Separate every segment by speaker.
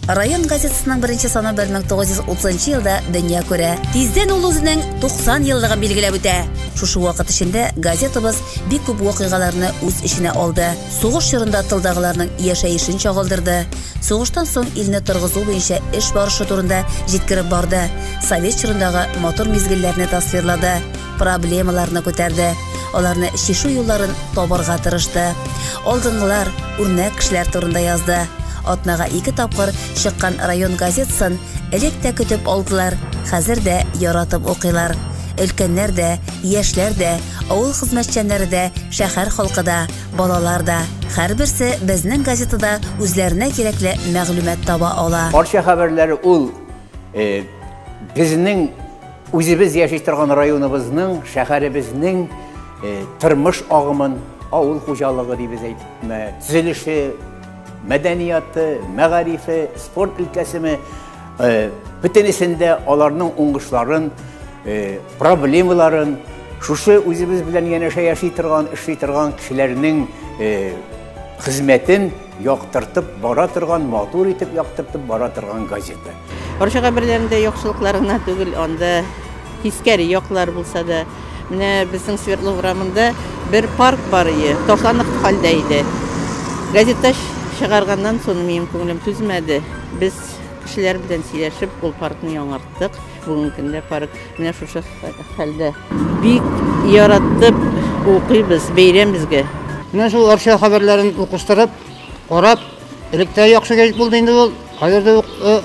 Speaker 1: Район газетасының беренче саны 1930 елда дөнья күрә. Тиздән ул үзенең 90 еллыгын билгеләп үтә. Шушы вакыт эчендә газетабыз бик күп вакыйгаларны үз эченә алды. Сугыш чорында тылдагыларның яшәешен чагылдырды. Сугыштан соң илне торгызу буенча эш барышы турында җиткереп барды. Совет чорындагы матур мизгелләрне тасвирлады. проблемаларны күтәрде, аларны чишү юлларын табарга тырышты. Алдынгылар, үрнәк кешеләр турында язды. Атнага ике тапкыр чыккан район газетасын элек тә көтеп алдылар, хәзер дә яратып укыйлар. Өлкәннәр дә, яшьләр дә, авыл хезмәтчәннәре дә, шәһәр халкы да, балалар да. Һәрберсе безнең газетада үзләренә кирәкле мәгълүмат таба ала. Арча хәбәрләре
Speaker 2: ул безнең Үзебез яши торган районыбызның, шәһәребезнең тормыш агымын, авыл хуҗалыгы дибез әйтме, төзелеше, мәдәнияты, мәгарифе, спорт өлкәсеме, бөтенесендә аларның уңышларын, проблемаларын шушы үзебез белән янәшә яши торган, эшли торган кешеләрнең хезмәтен Яктыртып бара торган, матур итеп яктыртып бара торган газета. Русча габерләрендә
Speaker 3: яхшылыклар гына түгел, анда тискәре яклар булса да. Менә безнең Свердлов урамында бер парк бар ие, ташланып хәлдә иде. Газета чыгарганнан соң минем күңелем түзмәде. Без кешеләр белән сөйләшеп, ул паркны яңарттык. Бүгенге көндә парк менә шушы хәлдә. Бик яраттып укыйбыз, бәйрәм безгә. Менә шул Арча
Speaker 4: хәбәрләрен укыштырып, карап, элек тә яхшы гәҗит булды инде ул. Хәзер дә э,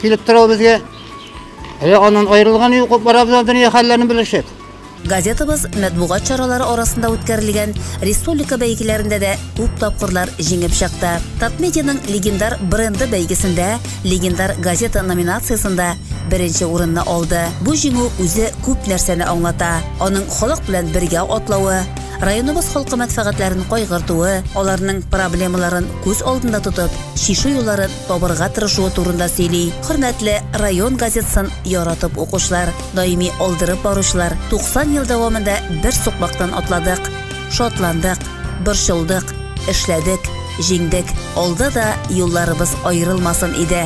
Speaker 4: килеп тора ул безгә. Әле аннан аерылган юк, барабыз дөнья хәлләрен белешеп. Газетабыз
Speaker 1: мәтбугат чаралары арасында үткәрелгән республика бәйгеләрендә дә күп тапкырлар җиңеп чыкты. Татмедианың легендар бренды бәйгесендә легендар газета номинациясендә беренче урынны алды. Бу җиңү үзе күп нәрсәне аңлата. Аның халык белән бергә атлавы, районыбыз халкы мәнфәгатьләрен кайгыртуы, аларның проблемаларын күз алдында тотып, чишү юлларын табырга тырышуы турында сөйли. Хөрмәтле район газетасын яратып укучылар! Даими алдырып баручылар 90 ел дәвамында бер сукмактан атладык. Шатландык, борчылдык, эшләдек, җиңдек. Алда да юлларыбыз аерылмасын иде.